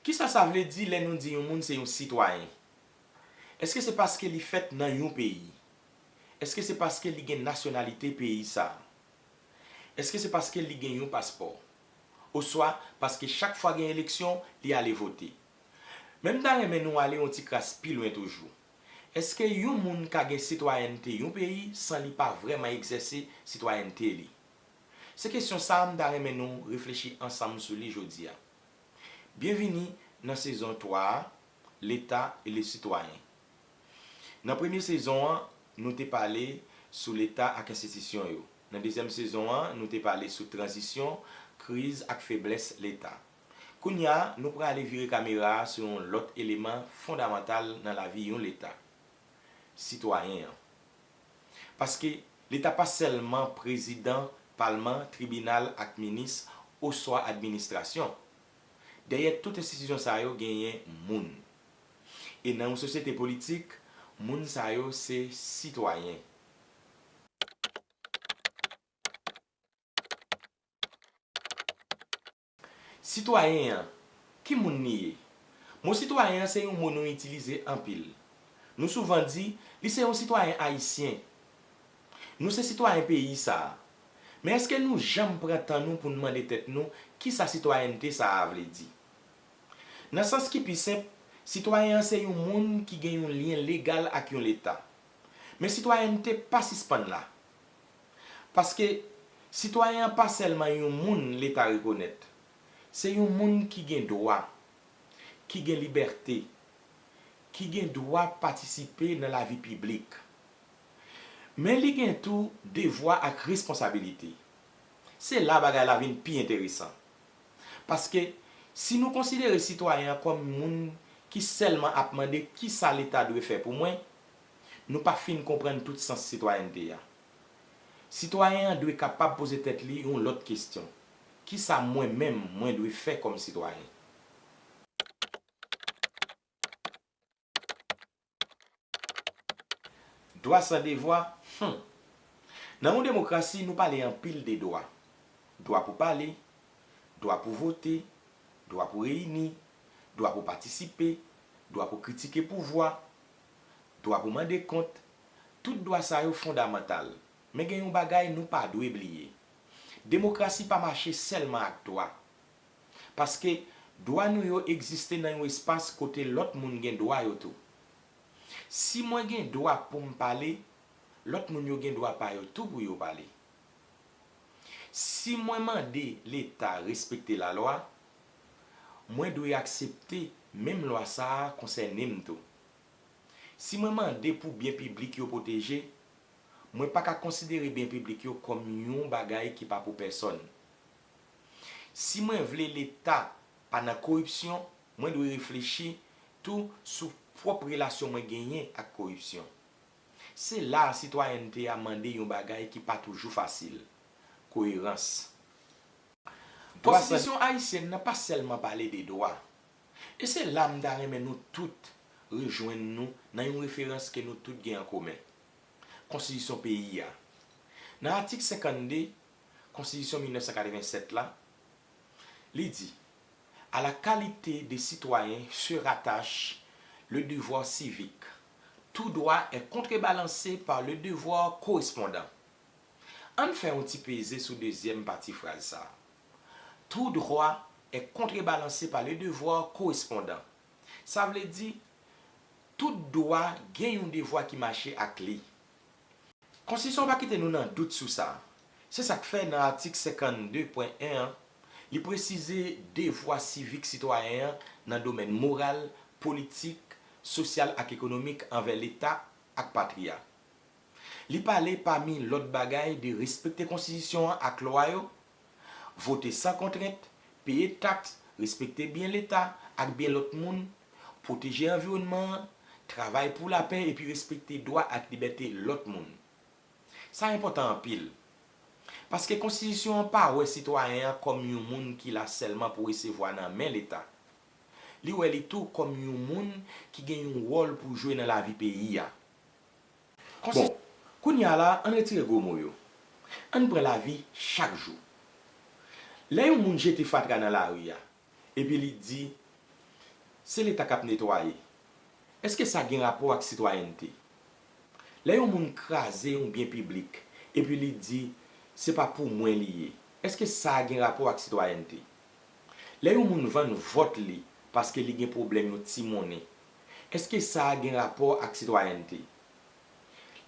Ki sa sa vle di lè nou di yon moun se yon sitwayen? Èske se paske li fèt nan yon peyi? Èske se paske li gen nasyonalite peyi sa a? Èske se paske li gen yon paspò? Oswa paske chak fwa gen eleksyon, li ale vote? Men m ta renmen nou ale yon ti kras pi lwen toujou. Èske yon moun ka gen sitwayènte yon peyi san li pa vrèman egzèse sitwayènte li? Se kesyon sa a m ta renmen nou reflechi ansanm sou li jodi a. Byenvini nan sezon 3 a, Leta e le sitwayen. Nan premye sezon an, nou te pale sou Leta ak enstitisyon yo. Nan dezyèm sezon an, nou te pale sou tranzisyon, kriz ak feblès Leta. Kounye a, nou prale vire kamera a sou yon lòt eleman fondamantal nan lavi yon Leta, sitwayen an. Paske, Leta pa sèlman prezidan, palman, tribinal ak minis oswa administrasyon. Dèyè tout enstitisyon sa yo genyen moun. E nan yon sosyete politik, moun sa yo se sitwayen. Sitwayen an, ki moun li ye? Mo sitwayen an se yon mo nou itilize anpil. Nou souvan di, li se yon sitwayen ayisyen. Nou se sitwayen peyi sa a. Men èske nou janm pran tan nou pou n mande tèt nou ki sa sitwayènte sa a vle di? Nan sans ki pi senp, sitwayen an se yon moun ki gen yon lyen legal ak yon leta. Men sitwayènte pa sispann la. Paske, sitwayen an pa sèlman yon moun Leta rekonèt. Se yon moun ki gen dwa, ki gen libète, ki gen dwa patisipe nan lavi piblik. Men li gen tou devwa ak responsabilite. Se la bagay la vin pi enteresan. Paske, si nou konsidere sitwayen an kòm moun ki sèlman ap mande kisa Leta dwe fè pou mwen, nou pa fin konprann tout sans sitwayènte a. Sitwayen an dwe kapab poze tèt li yon lòt kesyon, Kisa mwen menm mwen dwe fè kòm sitwayen? Dwa san devwa? Hum! Nan yon demokrasi, nou pale anpil de dwa. Dwa pou pale, dwa pou vote, dwa pou reyini, dwa pou patisipe, dwa pou kritike pouvwa, dwa pou mande kont, tout dwa sa yo fondamantal. Men gen yon bagay nou pa dwe bliye. Demokrasi pa mache sèlman ak dwa. Paske dwa nou yo egziste nan yon espas kote lòt moun gen dwa yo tou. Si mwen gen dwa pou m pale, lòt moun yo gen dwa pa yo tou pou yo pale. Si mwen mande Leta respekte lalwa, mwen dwe aksepte menm lwa sa a konsène m tou. Si mwen mande pou byen piblik yo pwoteje, mwen pa ka konsidere byen piblik yo kòm yon bagay ki pa pou pèsòn. Si mwen vle Leta pa nan koripsyon, mwen dwe reflechi tou sou pwòp relasyon mwen genyen ak koripsyon. Se la a sitwayènte a mande yon bagay ki pa toujou fasil, koyerans. Konstitisyon ayisyèn nan pa sèlman pale de dwa, E se la m ta renmen nou tout rejwenn nou nan yon referans ke nou tout gen an komen, Konstitisyon peyi a. Nan atik 52 Konstitisyon 1987 la, li di, A la qualité de citoyen se rattache le devoir civique, tout droit est contrebalancé par le devoir correspondant. An n fè yon ti peze sou dezyèm pati fraz sa a. Tout droit est contrebalancé par le devoir correspondant. Sa vle di, tout dwa gen yon devwa ki mache ak li. Konstitisyon an pa kite nou nan dout sou sa. Se sa k fè nan atik 52, pwen 1 an, li presize devwa sivik sitwayen an nan domèn moral, politik, sosyal ak ekonomik anvè Leta ak patri a. Li pale pami lòt bagay de respekte konstitisyon an ak lwa yo, vote san kontrent, peye taks, respekte byen leta ak byen lòt moun, pwoteje anviwònman an, travay pou lapè epi respekte dwa ak libète lòt moun. Sa enpòtan anpil. Paske konstitisyon an pa wè sitwayen an kòm yon moun ki la sèlman pou resevwa nan men leta. Li wè li tou kòm yon moun ki gen yon wòl pou jwe nan lavi peyi a. Bon, kounye a la, ann retire gwo mo yo. Ann pran lavi chak jou. Lè yon moun jete fatra nan lari a, epi li di, Se Leta k ap netwaye. Èske sa gen rapò ak sitwayènte? Lè yon moun kraze yon byen piblik, epi li di, Se pa pou mwen li ye. Èske sa gen rapò ak sitwayènte? Lè yon moun vann vòt li paske li gen pwoblèm yon ti monnen, Èske sa a gen rapò ak sitwayènte?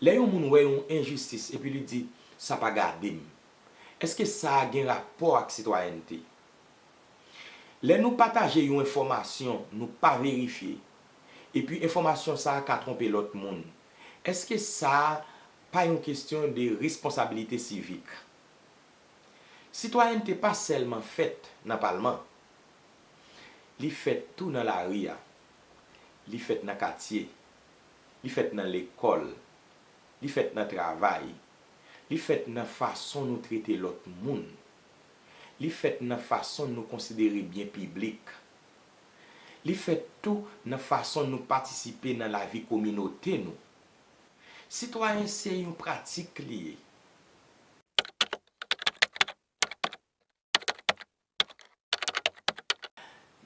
Lè yon moun wè yon enjistis epi li di, Sa pa gade m. Èske sa a gen rapò ak sitwayènte? Lè nou pataje yon enfòmasyon nou pa verifye, epi enfòmasyon sa a ka twonpe lòt moun, èske sa a pa yon kesyon de responsabilite sivik? Sitwayènte pa sèlman fèt nan palman. Li fèt tou nan lari a. Li fèt nan katye. Li fèt nan lekòl. Li fèt nan travay. Li fèt nan fason nou trete lòt moun. Li fèt nan fason nou konsidere byen piblik. Li fèt tou nan fason nou patisipe nan lavi kominote nou. Sitwayen se yon pratik li ye.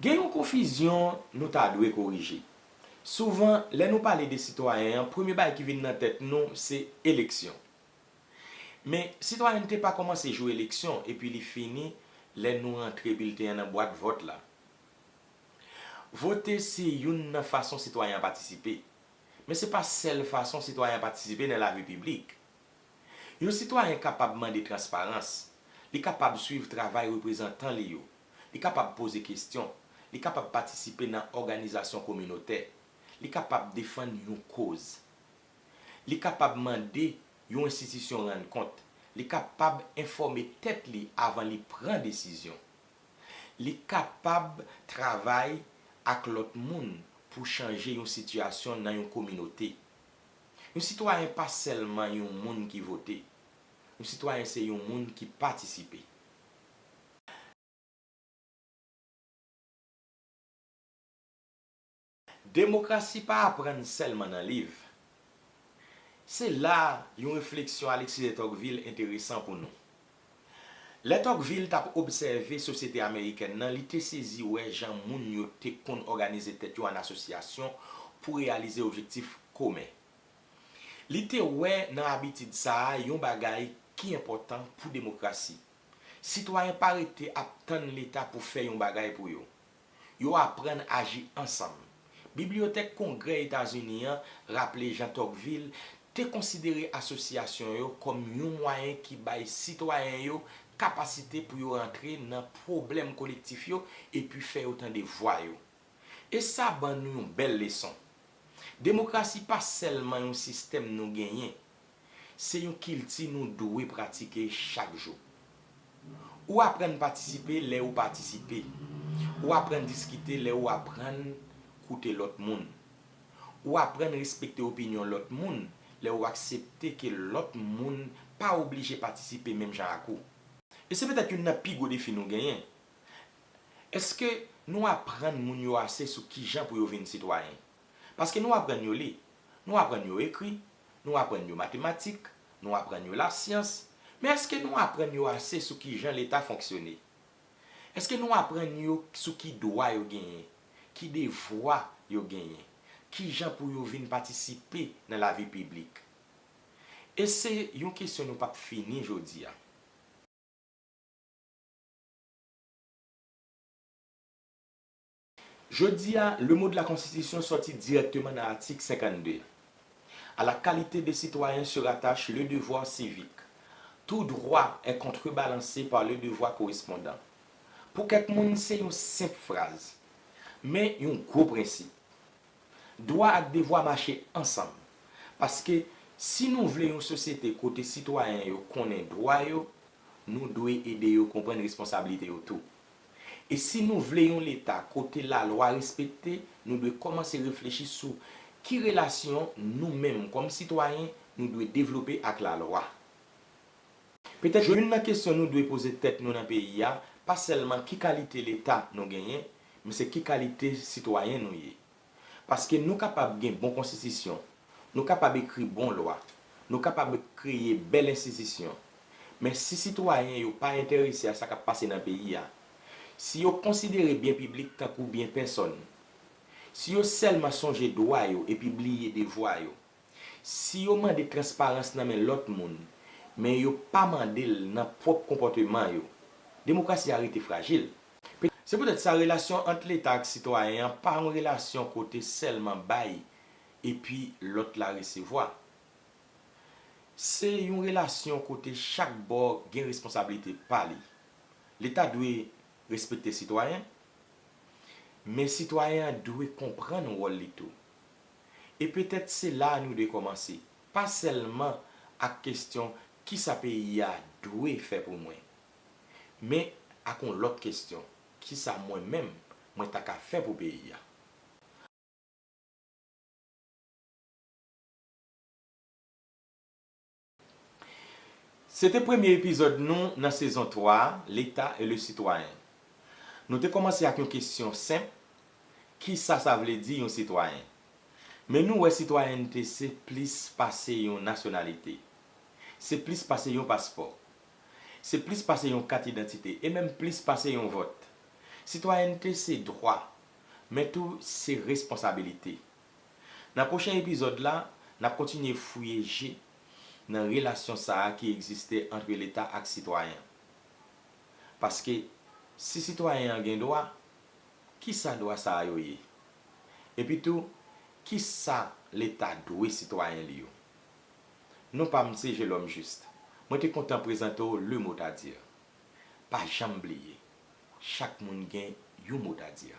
Gen yon konfizyon nou ta dwe korije. Souvan, lè nou pale de sitwayen an, premye bagay ki vin nan tèt nou se eleksyon. Men, sitwayènte pa kòmanse jou eleksyon epi li fini lè nou rantre bilten an nan bwat vòt la. Vote se youn nan fason sitwayen an patisipe. Men se pa sèl fason sitwayen an patisipe nan lavi piblik. Yon sitwayen kapab mande transparans, li kapab swiv travay reprezantan li yo, li kapab poze kestyon, li kapab patisipe nan òganizasyon kominotè, li kapab defann yon koz. Li kapab mande yon enstitisyon rann kont, li kapab enfòme tèt li avan li pran desizyon. Li kapab travay ak lòt moun pou chanje yon sitiyasyon nan yon kominote. Yon sitwayen pa sèlman yon moun ki vote. Yon sitwayen se yon moun ki patisipe. Demokrasi pa aprann sèlman nan liv. Se la yon refleksyon Alexis de Tocqueville enteresan pou nou. Lè Tocqueville t ap obsève sosyete amerikèn nan, li te sezi wè jan moun yo te konn òganize tèt yo an asosyasyon pou reyalize objektif komen. Li te wè nan abitid sa a yon bagay ki enpòtan pou demokrasi. Sitwayen pa rete ap tann Leta pou fè yon bagay pou yo. Yo aprann aji ansanm. Bibliyotèk Kongrè Etazini an raple jan Tocqueville te konsidere asosyasyon yo kòm yon mwayen ki bay sitwayen yo kapasite pou yo antre nan pwoblèm kolektif yo epi fè yo tande vwa yo. E sa ban nou yon bèl leson. Demokrasi pa sèlman yon sistèm nou genyen, Se yon kilti nou dwe pratike chak jou. Ou aprann patisipe lè ou patisipe. Ou aprann diskite lè ou aprann koute lòt moun. Ou aprann respekte opinyon lòt moun lè ou aksepte ke lòt moun pa oblije patisipe menm jan ak ou. E se petèt youn nan pi gwo defi nou genyen. Èske nou aprann moun yo ase sou kijan pou yo vin sitwayen? Paske nou aprann yo li, nou aprann yo ekri, nou aprann yo matematik, nou aprann yo lasyans, men èske nou aprann yo ase sou ki jan Leta fonksyone? Èske nou aprann yo sou ki dwa yo genyen, ki devwa yo genyen, ki jan pou yo vin patisipe nan lavi piblik? E se yon kesyon nou pap fini jodi a. Jodi a, le mot de la Constitution sòti dirèkteman nan atik 52 a. A la qualité de citoyen se rattache le devoir civique. Tout droit est contrebalancé par le devoir correspondant. Pou kèk moun, se yon senp fraz. Men, yon gwo prensip. Dwa ak devwa mache ansanm. Paske, si nou vle yon sosyete kote sitwayen yo konnen dwa yo, nou dwe ede yo konprann responsablite yo tou. E si nou vle yon Leta kote lalwa respekte, nou dwe kòmanse reflechi sou ki relasyon nou menm kòm sitwayen nou dwe devlope ak lalwa. Petèt youn nan kesyon nou dwe poze tèt nou nan peyi a pa sèlman ki kalite Leta nou genyen, men se ki kalite sitwayen nou ye. Paske nou kapab gen bon konstitisyon, nou kapab ekri bon lwa, nou kapab kreye bèl enstitisyon, men si sitwayen yo pa enterese a sa k ap pase nan peyi a, si yo konsidere byen piblik tankou byen pèsòn, si yo sèlman sonje dwa yo epi bliye devwa yo, Si yo mande transparans nan men lòt moun, men yo pa mande l nan pwòp konpòteman yo, demokrasi a rete frajil. Se poutèt sa, relasyon ant Leta ak sitwayen an pa yon relasyon kote sèlman bay epi lòt la resevwa. Se yon relasyon kote chak bò gen responsablite pa li. Leta dwe respekte sitwayen, men sitwayen an dwe konprann wòl li tou. E petèt se la a nou dwe kòmanse, pa sèlman ak kesyon kisa peyi a dwe fè pou mwen? Men ak yon lòt kesyon, kisa mwen menm mwen ta ka fè pou peyi a? Se te premye epizòd nou nan sezon 3 a, L'Etat et le citoyen. Nou te kòmanse ak yon kesyon senp, Kisa sa vle di yon sitwayen? Men nou wè sitwayènte se plis pase yon nasyonalite. Se plis pase yon paspò. Se plis pase yon kat idantite e menm plis pase yon vòt. Sitwayènte se dwa, men tou se responsabilite. Nan pwochen epizòd la, n ap kontinye fouye je nan relasyon sa a ki egziste antre Leta ak sitwayen. Paske, si sitwayen an gen dwa, ki sa dwa sa a yo ye? Epi tou, ki sa Leta dwe sitwayen li yo? Non pa m se Gelome Juste. Mwen te kontan prezante w Le Mot à Dire. Pa janm bliye, chak moun gen yon mot à dire.